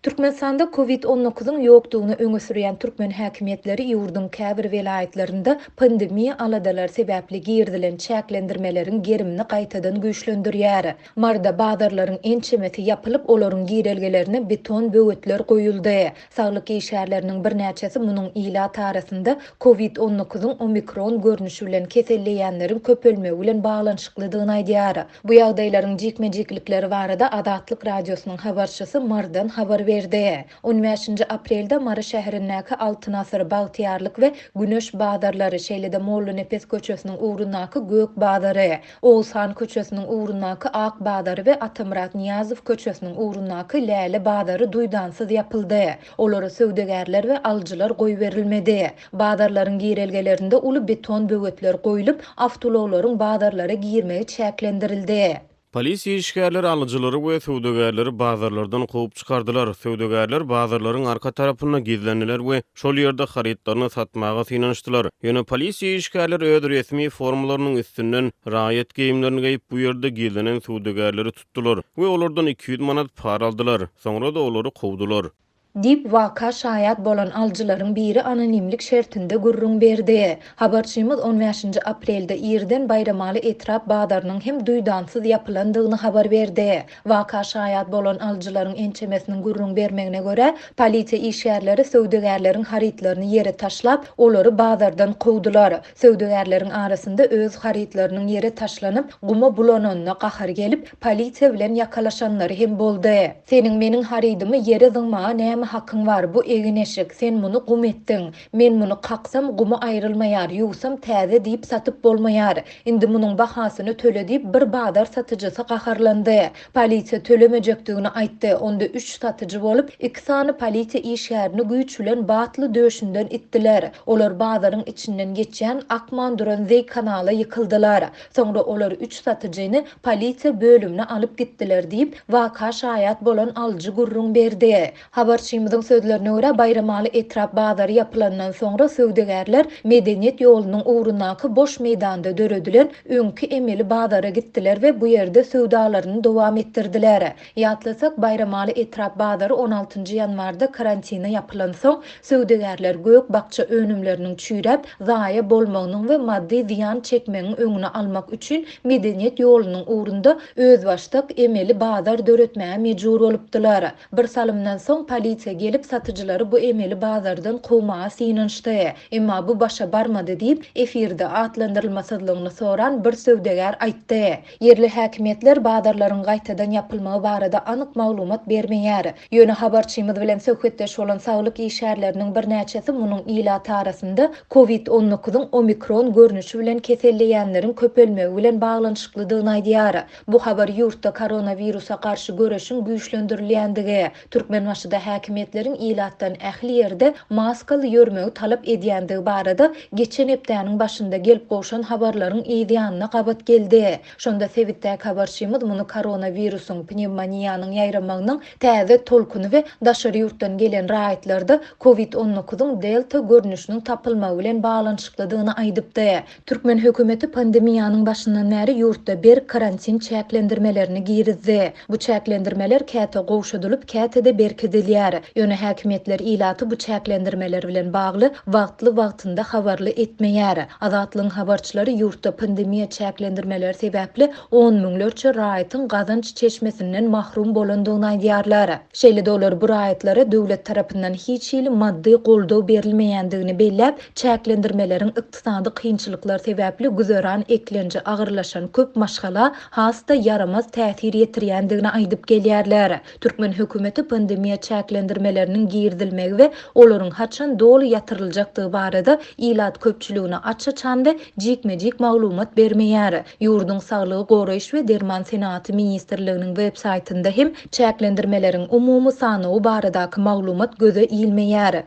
Türkmenistanda Covid on dokuzyň ýokdugyny öňe sürýän türkmen häkimiýetleri ýurduň käbir welaýatlarynda pandemiýa aladalary sebäpli girizilen çäklendirmeleriň gerimini gaýtadan güýçlendirýär. Marda bazarlaryň ençemesi ýapylyp, olaryň girelgelerine beton böwetler goýuldy. Saglyk işgärleriniň birnäçesi munuň ilat arasynda Covid on dokuzyň omikron görnüşi bilen keselleýänleriň köpelmegi bilen baglanyşyklydygyny aýdýar. Bu ýagdaýlaryň jikme-jiklikleri barada Azatlyk Radiosynyň habarçysy Marydan habar berdi. On bäşinji aprelde Mary şäherindäki Altyn asyr, Bagtyýarlyk we Güneş bazarlary, şeýle-de Mollanepes köçesiniň ugrundaky Gök bazary, Oguz han köçesiniň ugrundaky Ak bazary we Atamyrat Nyýazow köçesiniň ugrundaky Läle bazary duýdansyz ýapyldy. Olara söwdagärler we alyjylar goýberilmedi. Bazarlaryň girelgelerinde uly beton böwetler goýlup, awtoulaglaryň bazarlara girmegi çäklendirildi. Polisiýa işgärleri alyjylary we söwdagärleri bazarlardan kowup çykardylar. Söwdagärler bazarlaryň arka tarapynda gizlendiler we Şol ýerde harytlaryny satmaga synanyşdylar. Ýöne polisiýa işgärleri öz resmi formalarynyň üstünden raýat geýimlerini geýip, bu ýerde gizlenen söwdagärleri tutdular we olardan iki ýüz manat para aldylar. Soňra-da olary kowdular. Diýip, waka şaýat bolan alyjylaryň biri anonimlik şertinde gürrüň berdi. Habarçymyz on bäşinji aprelde irden Baýramaly etrap bazarynyň hem duýdansyz ýapylandygyny habar berdi. Waka şaýat bolan alyjylaryň ençemesiniň gürrüň bermegine görä, polisiýa işgärleri söwdagärleriň harytlaryny ýere taşlap, olary bazardan kowdular. Söwdagärleriň arasynda öz harytlarynyň ýere taşlanyp, guma bulananyna gahary gelip, polisiýa bilen ýakalaşanlary hem boldy. Seniň meniň harydymy ýere zyňmaga näme hakyň bar, bu egin-eşik, sen muny gum etdiň. Men muny kaksam gumy aýrylmaýar, ýuwsam täze diýip satyp bolmaýar. Indi munuň bahasyny töle diýip bir bazar satyjysy gaharlandy. Polisiýa tölemejekdigini aýtdy. Onda üç satyjy bolup, iki sany polisiýa işgärini güýç bilen batly döşünden itdiler. Olar bazaryň içinden geçýän akman duran zeý kanala ýykyldylar. Soňra olar üç satyjyny polisiýa bölümine alyp gitdiler diýip, waka şaýat bolan alyjy gürrüň berdi. Habarçymyzyň sözlerine görä, Baýramaly etrap bazary ýapylandan soňra söwdagärler Medeniýet ýolunyň ugrundaky boş meýdanda döredilen öňki emeli bazara gitdiler we bu ýerde söwdalaryny dowam etdirdiler. Ýatlasak, Baýramaly etrap bazary on altynjy ýanwarda karantine ýapylansoň, söwdagärler gök-bakja önümleriniň çüýräp, zaýa bolmagynyň we maddy zyýan çekmegiň öňüni almak üçin Medeniýet ýolunyň ugrunda özbaşdak emeli bazar döretmäge mejbur bolupdylar. Bir salymdan soň polisiýa gelip, satyjylary bu emeli bazardan kowmaga synanyşdy. Emma bu başa barmady diýip, efirde atlandyrylmasyzlygyny soran bir söwdagär aýtdy. Ýerli häkimiýetler bazarlaryň gaýtadan ýapylmagy barada anyk maglumat bermeýär. Ýöne habarçymyz bilen söhbetdeş bolan saglyk işgärleriniň birnäçesi munuň ilat arasynda Covid on dokuz-yň omikron görnüşi bilen keselleýänleriň köpelmegi bilen baglanyşyklydygyny aýdýar. Bu habar ýurtda koronawirusa garşy göreşiň güýçlendirilýändigi, Türkmenbaşyda häkimiýetleriň ilatdan ähli ýerde maskaly ýörmegi talap edýändigi barada geçen hepdäniň başynda gelip gowşan habarlaryň yz ýanyna gabat geldi. Şonda sebitdäki habarçymyz muny koronawirusyň, pnewmoniýanyň ýaýramagynyň täze tolkuny we daşary ýurtdan gelen raýatlarda covid on dokuz yň delta görnüşiniň tapylmagy bilen baglanyşyklydygyny aýdypdy. Türkmen hökümeti pandemiýanyň başyndan bäri ýurtda berk karantin çäklendirmelerini girizdi. Bu çäklendirmeler käte gowşadylyp, käte-de berkidilýär. Ýöne häkimiýetler ilaty bu çäklendirmeler bilen bagly wagtly-wagtynda habarly etmeýär. Azatlygyň habarçylary ýurtda pandemiýa çäklendirmeleri sebäpli on müňlerçe raýatyň gazanç çeşmesinden mahrum bolandygyny aýdýarlar. Şeýle-de olar bu raýatlara döwlet tarapyndan hiç hili maddy goldaw berilmeýändigini belläp, Çäklendirmeleriň ykdysady kynçylyklar sebäpli güzeran eklenji agyrlaşan köp maşgala has-da ýaramaz täsir ýetirýändigini aýdyp gelýärler. Türkmen hökümeti pandemiýa çäklendirmeleriniň girizilmegi we olaryň haçan doly ýatyryljakdygy barada ilat köpçüligine aç-açan we jikme-jik maglumat bermeýär. Ýurduň Saglygy goraýyş we derman senagaty ministrliginiň websaýtynda hem çäklendirmeleriň umumy sanawy baradaky maglumat göze ilmeýär.